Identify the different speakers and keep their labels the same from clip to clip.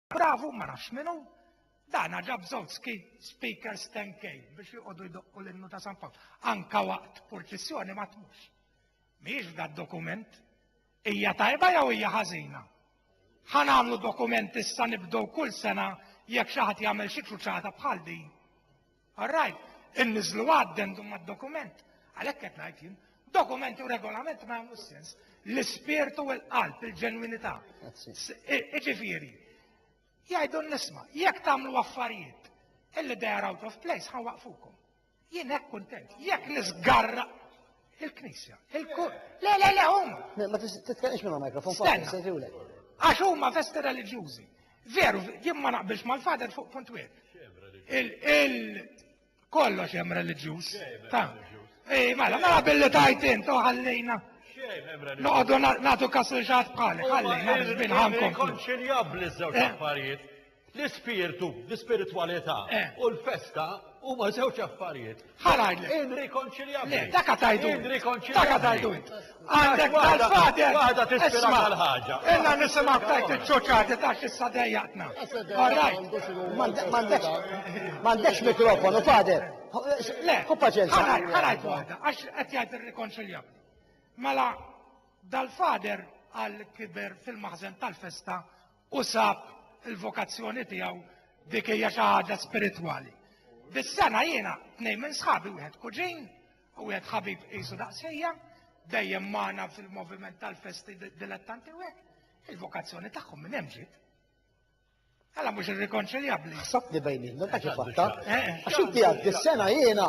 Speaker 1: Bravu ma nafx min hu, dana ġab żewġ speakers 10K biex joqogħdu jdoqqu l-innu ta' San Pawl. Anka waqt purċissjoni ma tmux. Mhijiex da dokument. Hija tajba jew hija ħażina? Ħa nagħmlu dokument issa nibdew kull sena jekk xi ħadd jagħmel xi kruċata bħal din. All right, inniżlu addendum mad-dokument. Għalhekk qed ngħid jien, dokument u regolament ma jagħmlu sens. L-ispirtu u l-qalb, il-ġenwinità. Iġifieri, jgħidu nisma, jekk tagħmlu affarijiet illi they are out of place, ħawaqfukom. Jien hekk kuntent. Jekk nisgarra Il-Knisja. Il-kur. Le, le, le, huma. Ma titkellimx
Speaker 2: minn mikrofon fuq se tiwlek.
Speaker 1: Għax huma festi reliġjużi. Veru, jien ma naqbilx mal-fader fuq punt wieħed. Il kollox hemm reliġjuż. Ta. Ej, mela, mela billi tajt int u ħallejna. Noqogħdu nagħtu kas il-ġat bħalek, ħallejna biex binħankom. Konċiljabbli żewġ
Speaker 3: eh? affarijiet. L-ispirtu, l-ispiritwalità u l-festa huma żewġ affarijiet. Ħalajn.
Speaker 1: Inrikonċiljabbli. Le,
Speaker 3: dak tajdu.
Speaker 1: Inrikonċiljabbli. Dak tajdu int. Għandek tal-fader. Waħda tispira
Speaker 3: tal-ħaġa. Illa nisimgħu
Speaker 1: tajt iċ-ċoċati ta' xissa dejjaqna. M'għandekx
Speaker 2: m'għandekx mikrofonu, fader. Le, hu
Speaker 1: paċenza.
Speaker 2: Ħalajn waħda,
Speaker 1: għax qed jgħid irrikonċiljabbli. Mela dal-fader għal kiber fil-maħżen tal-festa u sab il-vokazzjoni tiegħu dik hija xi ħaġa spiritwali. Bis-sena jiena tnejn minn sħabi wieħed kuġin u wieħed ħabib qisu daqsejja dejjem magħna fil-moviment tal-festi dilettanti u hekk. Il-vokazzjoni tagħhom minn hemm ġiet. Alla mhux irrikonċiljabbli. Sabni bejnietna ta'
Speaker 2: kif fatta. Eh, eh. Għax inti għaddi s-sena jiena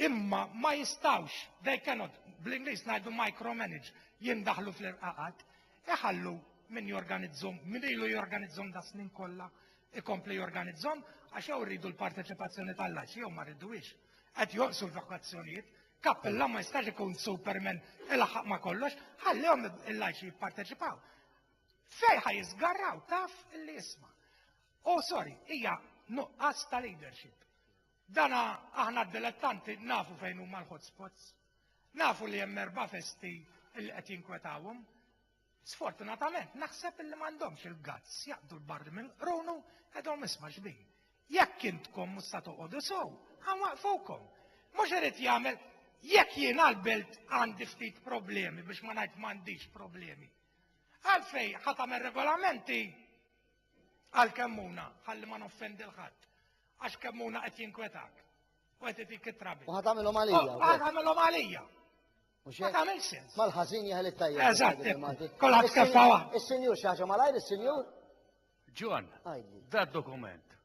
Speaker 1: imma ma jistawx, they cannot, bl-Ingliż ngħidu micromanage, jindaħlu fl-irqaqat, iħallu min jorganizzhom, min ilu jorganizzhom da snin kollha, ikompli jorganizzhom, għax jew rridu l-parteċipazzjoni tal-laċi jew ma rridux. Qed joqsu l-vokazzjonijiet, kappella ma jistax ikun superman il-ħaq ma kollox, ħallihom il-laċi jipparteċipaw. Fejħa jizgarraw, taf li jisma. Oh, sorry, hija nuqqas ta' leadership. Dana aħna d-dilettanti nafu fejn huma l-hotspots. Nafu li hemm erba' festi li qed jinkwetawhom. Sfortunatament naħseb li m'għandhomx il-gazz jaqdu l-barri minn qrunu qegħdhom isma' xbin. Jekk intkom mhux sa toqgħodu sew, ħanwaqfukom. Mhux irid jagħmel jekk jien għall-belt għandi ftit problemi biex ma ngħid m'għandix problemi. Għalfej ħa tagħmel regolamenti Għal kemmuna, ħalli ma noffendi l-ħadd. Għax kemmuna qed jinkwetak. U qed itik it-trabi. U ħatamilhom għalija.
Speaker 2: U ħatamilhom għalija.
Speaker 1: Ma tagħmel sens. Mal-ħażin jaħel it-tajjeb.
Speaker 2: Eżatt. Kolħat
Speaker 1: keffa waħda. Is-sinjur xi ħaġa malajr
Speaker 2: is-sinjur? Ġon,
Speaker 3: da dokument.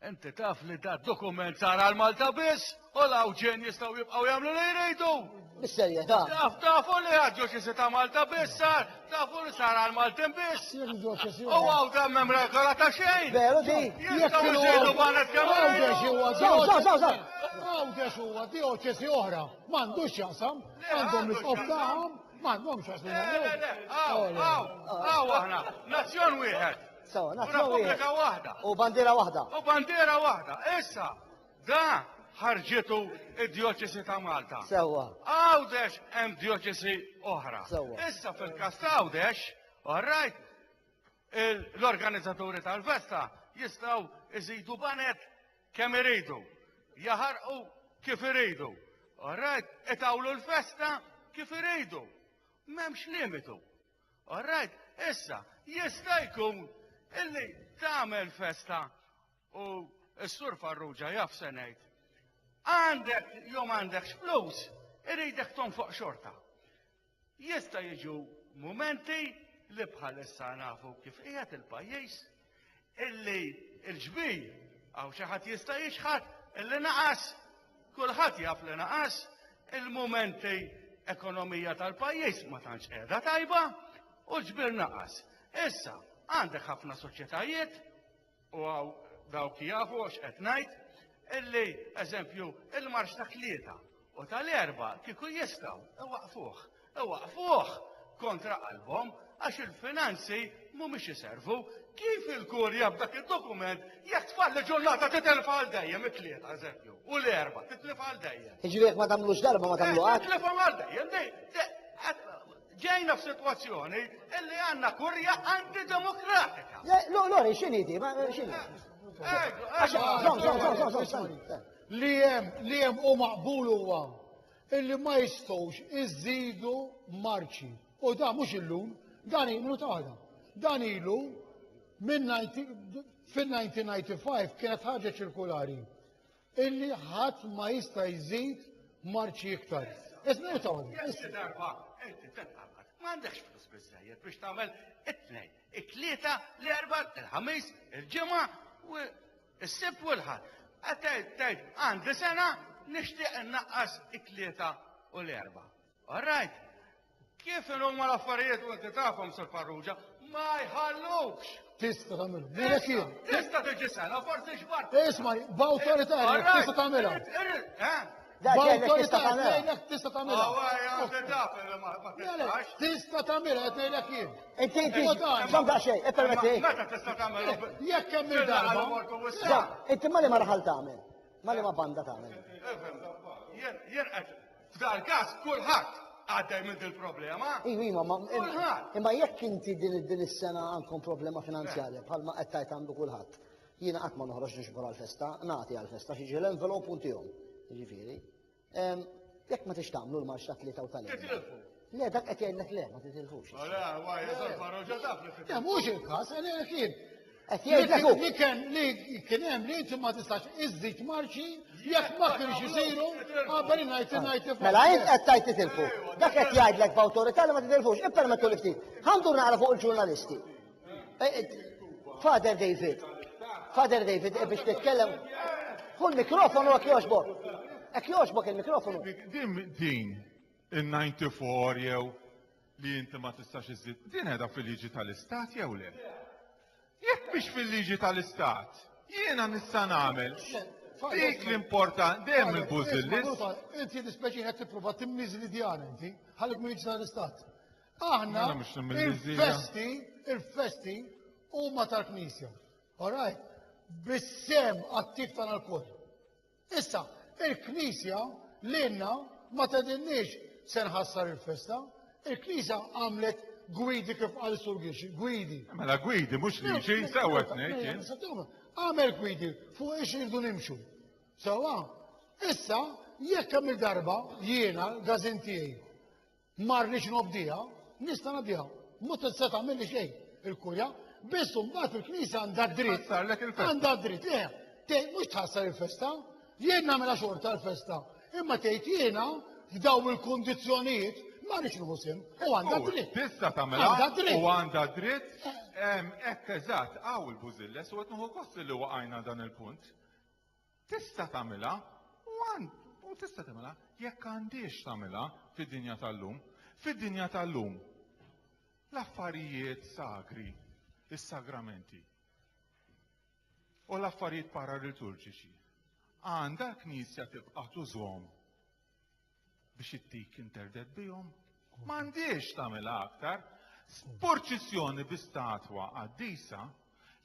Speaker 3: Inti taf li da dokument sar għal Malta biss u l-Awġen jistgħu jibqgħu jagħmlu li jridu. Bis-serjetà.
Speaker 2: Taf tafu li
Speaker 3: għad-Djoċesi ta' Malta biss sar, tafu li sar għal Maltin biss. U għaw da mem regola ta' xejn. Veru di. Jistgħu
Speaker 2: jżidu
Speaker 3: banet kemm Għawdex huwa dioċesi. Għawdex
Speaker 4: huwa dioċesi oħra. M'għandux x'jaqsam. Għandhom l-isqof tagħhom. M'għandhomx x'jaqsam. Għaw
Speaker 3: aħna. Nazzjon wieħed. Sawa, nazzjon wieħed. U
Speaker 2: repubblika
Speaker 3: waħda. U bandiera waħda.
Speaker 2: U bandiera waħda.
Speaker 3: Issa, da ħarġitu id-dioċesi ta' Malta. Sewa. Għawdex hemm dioċesi oħra. Sewa. Issa fil-kas
Speaker 2: ta'
Speaker 3: Għawdex, orrajt, l-organizzaturi tal-festa jistaw iżidu banet kemm iridu, jaħarqu kif iridu. Orrajt, itawlu l-festa kif iridu. Memx limitu. All right, issa, jista' jkun illi tagħmel festa u s-sur Farrugia jaf se ngħid. Għandek jew għandek flus, iridek tonfoq xorta. Jista' jiġu mumenti li bħalissa nafu kif qiegħed il-pajjiż illi l-ġbir għaw xi ħadd jista' jixħat illi naqas, kulħadd jaf li naqas, il-mumenti ekonomija tal-pajjiż ma tantx qiegħda tajba u l-ġbir naqas. Issa, għandek ħafna soċjetajiet u għaw dawk jafu għax qed ngħid illi eżempju il-marx ta' klieta U tal-erbgħa kieku jistgħu, iwaqqfuh. Iwaqqfuh kontra qalbhom għax il-finanzi mhumiex iservu. Kif il-kurja b'dak id-dokument jekk tfalli ġurnata titilfa għal dejjem it-tlieta eżempju u l-erba' titlifa għal dejjem. Jiġifieri jekk ma tagħmlux darba
Speaker 2: ma tagħmlu qatt. Titlifa għal dejjem.
Speaker 3: Ġejna f'sitwazzjoni illi għandna kurja antidemokratika. Lori,
Speaker 2: x'inhi di? X'inhi? Għax,
Speaker 4: Li hemm li hemm u maqbul huwa illi ma jistgħux iżidu marċi. U dan mhux illum, dan ilu ta' waħda. Dan ilu minn fin-1995 kienet ħaġa ċirkulari illi ħadd ma jista' jżid marċi iktar. Isma' ta' darba,
Speaker 3: ma għandekx flus biżejjed biex tagħmel it-tnejn, it-tlieta, l-erba, il-ħamis, il-ġimgħa u Is-Sibt u l-Ħadd. Qed tgħid tgħid għandi sena nixtieq innaqqas it-tlieta u l-erba'. All right. Kif huma l-affarijiet u inti tafhom sur Farrugia, ma jħallukx. Tista' tagħmilhom.
Speaker 4: Mela kien. Tista' tiġi sena,
Speaker 3: forsi xbart. Isma' b'awtorità
Speaker 4: tista' tagħmilha. Eh? B'awtorità qed ngħidlek tista' tagħmilha. Tista' tagħmilha qed ngħidlek jien. Inti inti
Speaker 2: żomm daqsxejn, ippermetti. Meta tista' tagħmilha?
Speaker 3: Jekk hemm
Speaker 4: il-darba. Inti ma li ma
Speaker 2: raħal tagħmel? Ma li ma banda tagħmel? Jien
Speaker 3: jien qed f'dal każ kulħadd għaddej minn din il-problema. Iva, iva, ma
Speaker 2: imma jekk inti din is-sena għandkom problema finanzjarja bħalma qed tgħid għandu kulħadd. Jiena qatt ma noħroġ nixbor għall-festa, nagħti għall-festa xi ġiel envelop u ntihom. Jiġifieri, ehm, jekk ma tix tagħmlu l-marx ta' tlieta u tal-erba'. Le, dak qed jgħidlek le, ma titilfux. Le, għaj, eżan farroġa taf li
Speaker 4: Le, mhux il-każ, għalli kien. Qed jgħidlek hu. Li
Speaker 2: kien li
Speaker 4: kien hemm li inti ma tistax iżżid marċi jekk ma kienx isiru qabel ngħid ngħid tifhem. Mela int qed tajt
Speaker 2: titilfu. Dak qed jgħidlek b'awtorità li ma titilfux. Ippermettu li ftit. Ħandur naqra fuq il-ġurnalisti. Eh, eh, Father David, Father David, eh, biex titkellem, hu l-mikrofonu għak joġbok. Għak joġbok il-mikrofonu. Din, din,
Speaker 5: il-94 jew li jinti ma tistax iżid, din edha fil-liġi tal-istat jew le? Jekk biex fil-liġi tal-istat, jiena nista' nagħmel Dik l-important, dem il-bużillis. Inti l-ispeċi
Speaker 4: għed t-prova timmiz li djan inti, ħalik minn l-istat. Aħna Mela mhux minn Lizija. il-festi, il-festi huma tal-Knisja. Alright? Bissem attiv tagħna l-kull. Issa, il-Knisja lilna ma tedinniex se nħassar il-festa. Il-Knisja għamlet gwidi kif qal sur Gixi, gwidi. Mela gwidi, mhux
Speaker 5: li xi sewwet ngħid jien. Għamel
Speaker 4: gwidi fuq ix irdu nimxu. Sewa, issa jekk hemm il-darba jiena l-gazin tiegħi Ma rridx nobdiha, nista' ngħaddiha. Ma tista' tagħmilli xejn il-kurja, biss mbagħad il-Knisja għandha dritt. Għandha dritt, le, tgħid mhux tħassar il-festa, jien nagħmilha xorta l-festa. Imma tgħid jiena f'daw il-kundizzjonijiet ma rridx nħusim u għandha dritt. Tista' tagħmilha
Speaker 5: u għandha dritt. Eh. Ekk eżatt, għaw il-bużilles u qed nieħu li waqajna dan il-punt. Tista' tagħmilha, u għand, u tista' tagħmilha, jekk għandhiex tagħmilha fid-dinja tal-lum. Fid-dinja tal-lum, l-affarijiet sagri, is-sagramenti, u l-affarijiet paraliturġiċi, għandha l-Knisja tibqa' tużhom biex it-tik interded bihom, m'għandhiex tagħmilha aktar. Purċissjoni bi statwa qaddisa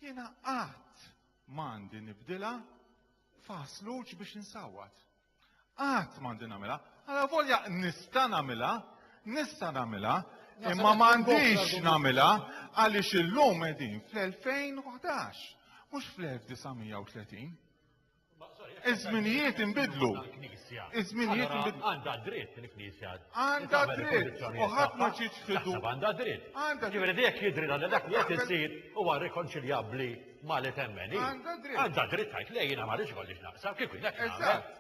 Speaker 5: jiena qatt m'għandi nibdilha fasluġ biex insawwat. Qatt m'għandi nagħmilha, għala volja nista' nagħmilha, nista' nagħmilha, imma m'għandix nagħmilha għaliex illum qegħdin fl-2011, mhux fl-1930. Iż-żminijiet inbidlu. Iż-żminijiet inbidlu. Għandha dritt il-Knisja.
Speaker 6: Għandha dritt.
Speaker 5: U ħadd ma ġietx fidu. Għandha dritt. Għandha
Speaker 6: dritt. Ġifieri jekk jidri li dak li qed isir huwa rikonċiljabbli ma' li temmeni. Għandha dritt. Għandha dritt tgħid lejn ma rridx kollix naqsam kif hekk. Eżatt.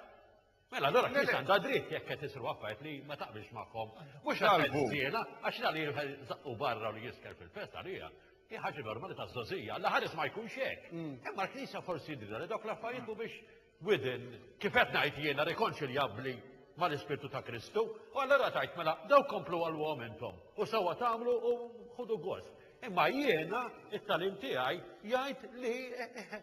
Speaker 6: Mela, allora kif għandha dritt jekk qed isru affarijiet li ma taqbilx magħhom. Mhux għalbu. Jiena għax la li żaqqu barra li jisker fil-fest għalija. Hi ħaġa normali ta' żożija, la ħares ma jkunx hekk. Mm. Imma l-Knisja forsi jidhirha li dawk l-affarijiet mhumiex within kif qed ngħid jiena rikonċiljabbli mal-Ispirtu ta' Kristu, u allora tajt mela daw komplu għal-għom intom, u sawa tamlu u ħudu gost. Imma jiena, it-talim tiegħi, jgħid li eh, eh, eh,